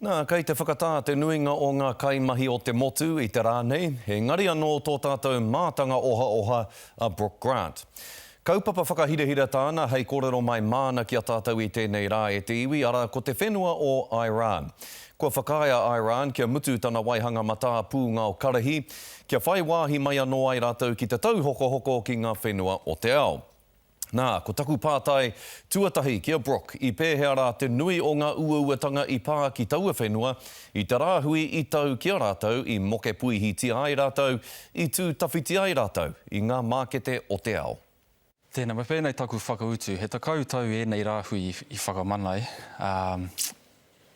Nā, kei te whakatā te nuinga o ngā kaimahi o te motu i te rā nei, engari anō tō tātou mātanga ohaoha a Brooke Grant. Kaupapa whakahirahira tāna hei kōrero mai māna ki a tātou i tēnei rā e te iwi, arā, ko te whenua o Iran. Kua whakaae a Iran kia mutu tana waihanga matā pūngao karahi, kia whai wāhi mai anō ai rātou ki te tauhokohoko ki ngā whenua o te ao. Nā, ko taku pātai tuatahi ki a Brooke, i pēhea rā te nui o ngā uauatanga i pā ki taua whenua i te rāhui i tau ki a rātou, i mokepuihitia ai rātou, i tū tawhiti ai rātou i ngā mākete o te ao? Tēnā, me pēnei taku whakautu, he tekau tau ēnei rāhui i whakamana ai, ā,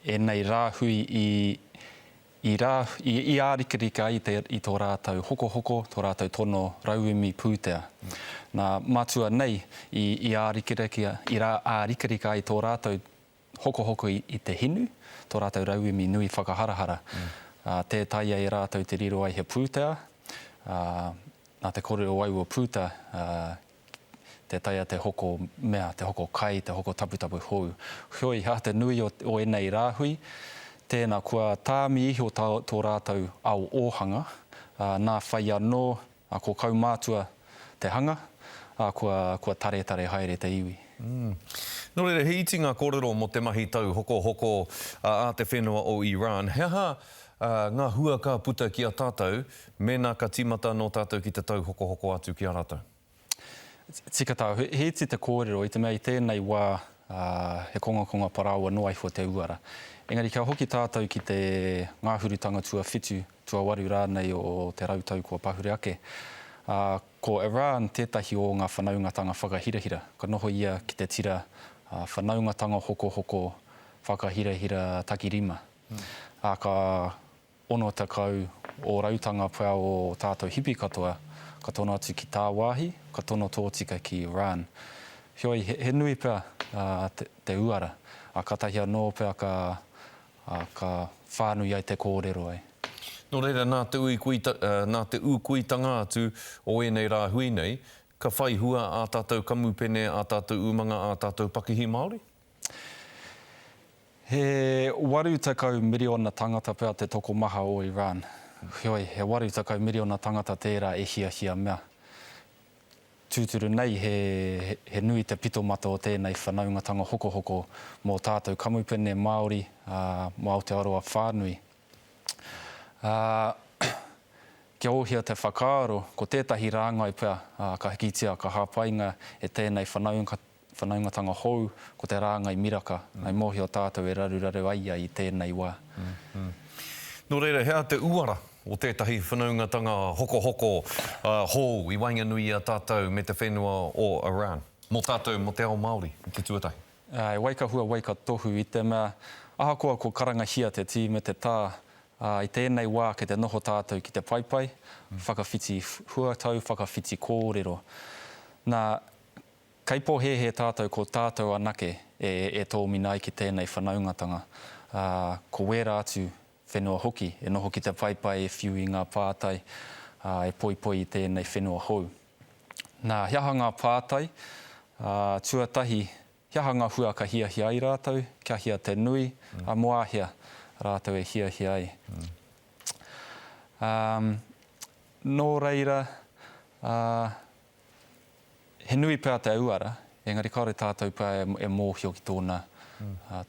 ēnei rāhui i i rā, i i ārikarika ai te i tō rātou hokohoko, tō rātou tono rauemi pūtea. Nā, matua nei, i i ārikirakia, i rā ārikarika ai tō rātou hokohoko i i te hinu, tō rātou rauemi nui whakaharahara. Ā, tē taea e rātou te riro ai he pūtea, ā, nā te kore o au o Puta, ā, te taea te hoko mea, te hoko kai, te hoko taputapu hou. Heoi, hā te nui o ēnei rāhui, tēnā, kua tāmi iho tō rātou ao ōhanga, ā, nā whai anō, ā, ko kaumātua te hanga, ā, kua, kua taretare haere te iwi. Nō reira, he iti ngā kōrero mō te mahi tauhokohoko a te whenua o Iran. He aha ngā hua ka puta ki a tātou Mēnā ka tīmata anō tātou ki te tauhokohoko atu ki a rātou. Tika tau, he iti te kōrero, i te mea i tēnei wā he kongakonga parāoa noa iho te uara. Engari kia hoki tātou ki te ngāhurutanga tuawhitu, tuawaru rānei o te rautau kua pahure ake, ko Iran tētahi o ngā whanaungatanga whakahirahira. Ka noho ia ki te tira Whanaungatanga Hokohoko Whakahirahira Takirima, ā, ka Ono tekau o rautanga pea o o tātou hipi katoa, ka tono atu ki tāwāhi, ka tono tōtika ki Iran. Heoi, he nui pea te uara, ā, kātahi anō pea ka whānui ai te kōrero, e. Nō reira, nā te nā te ūkuitanga atu o ēnei rāhui nei, ka whai hua ā tātou kamupene, ā tātou umanga, ā tātou pakihi Māori? He waru tekau miriona tangata pea te tokomaha o Iran. Heoi, he waru tekau miriona tangata tērā e hiahia mea. Tūturu nei, he nui te pitomata o tēnei whanaungatanga hokohoko mō tātou kamupene Māori, ā, mō Aotearoa whānui. Ā, kia ohia te whakaaro, ko tētahi rāngai pea, ā, ka hikitia, ka hāpainga e tēnei Whanaungatanga hou, ko te rāngai miraka, I mōhio tātou e raruraru ai ia i tēnei wā. Nō reira, he aha te uara o tētahi whanaungatanga hokohoko hou i waenganui i a tātou me te whenua o Iran, mō tātou, mō te ao Māori i te tuatahi? Āe, wai ka hua, wai ka tohu, i te mea, ahakoa kua karangahia te tī me te tā, ā, i tēnei wā kei te noho tātou ki te paepae, whakawhiti huatau, whakawhiti kōrero. Nā, Kei pōhēhē tātou ko tātou anake e e tōmina ai ki tēnei whanaungatanga, ā, ko wērā atu whenua hoki e noho ki te paepae e whiu i ngā pātai, ā, e poipoi i tēnei whenua hou. Nā, he aha ngā pātai? Ā, tuatahi, he aha ngā hua ka hiahia ai rātou, kia hia te nui, ā, mō ā hea rātou e hiahia ai? Ā, nō reira, ā, He nui pea te uara, engari kāore tātou pea e mōhio ki tōna,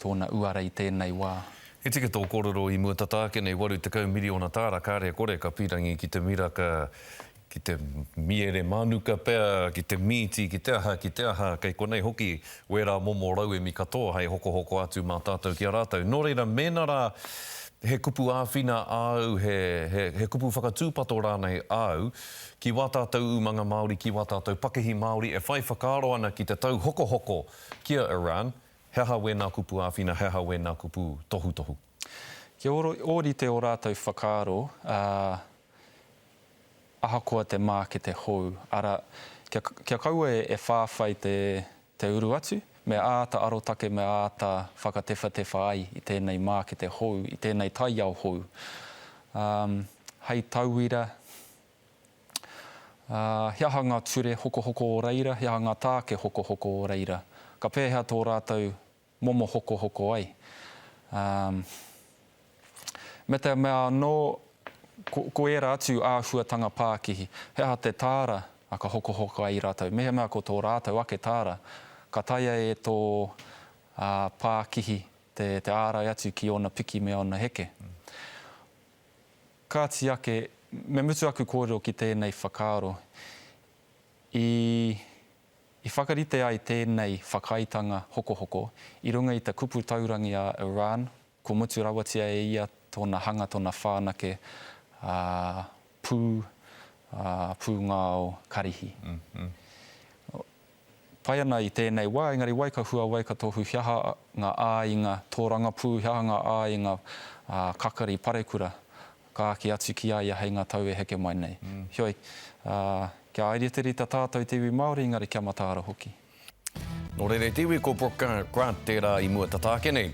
tōna uara i tēnei wā. He tika tō kōrero i mua tata ake nei, 80 miriona tāra, kāre kore ka pīrangi ki te miraka, ki te miere mānuka pea, ki te mīti, ki te aha, ki te aha, kei konei hoki wērā momo rauemi katoa hei hokohoko atu mā tātou ki a rātou. Nō reira, mēnā rā he kupu āwhina āu, he, he, he kupu whakatūpato rānei āu, ki wā tātou umanga Māori, ki wā tātou pakihi Māori e whai whakaaro ana ki te tauhokohoko ki a Iran, he aha wēnā kupu āwhina, he aha wēnā kupu tohutohu? Kia ōrite ō rātou whakaaro, ā, ahakoa te mākete hou, arā, kia, kia kaua e whāwhai te, te uru atu, me āta arotake, me āta whakatewhatewha ai i tēnei mākete hou, i tēnei taiao hou. Ā, hei tauira, Ā, he aha ngā ture hokohoko o reira, he aha ngā tāke hokohoko o reira? Ka pēhea tō rātou momo hokohoko ai? Ā, me te mea anō, ko, ko ērā atu āhuatanga pākihi, he aha te tāra ka hokohoko ai rātou? Mehemea ko tō rātou ake tāra, ka taea e tō, ā, pākihi te, te ārai atu ki ōna piki me ōna heke. Kāti ake, me mutu aku kōrero ki tēnei whakaaro, i, i whakarite ai tēnei whakaaetanga hokohoko i runga i te kupu taurangi a Iran, kua mutu rawatia e ia tōna hanga, tōna whanake, ā, pū, ā, pūngao karihi. Pai ana i tēnei wā, engari wai ka huawai ka tohu he aha ngā āinga tōrangapū, he aha ngā āinga kakari parekura ka āki atu ki a ia hei ngā tau e heke mai nei. Heoi, kia airiterita tātou te iwi Māori, engari kia mataara hoki. Nō reira te iwi ko Brooke Grant tērā i mua tata ake nei.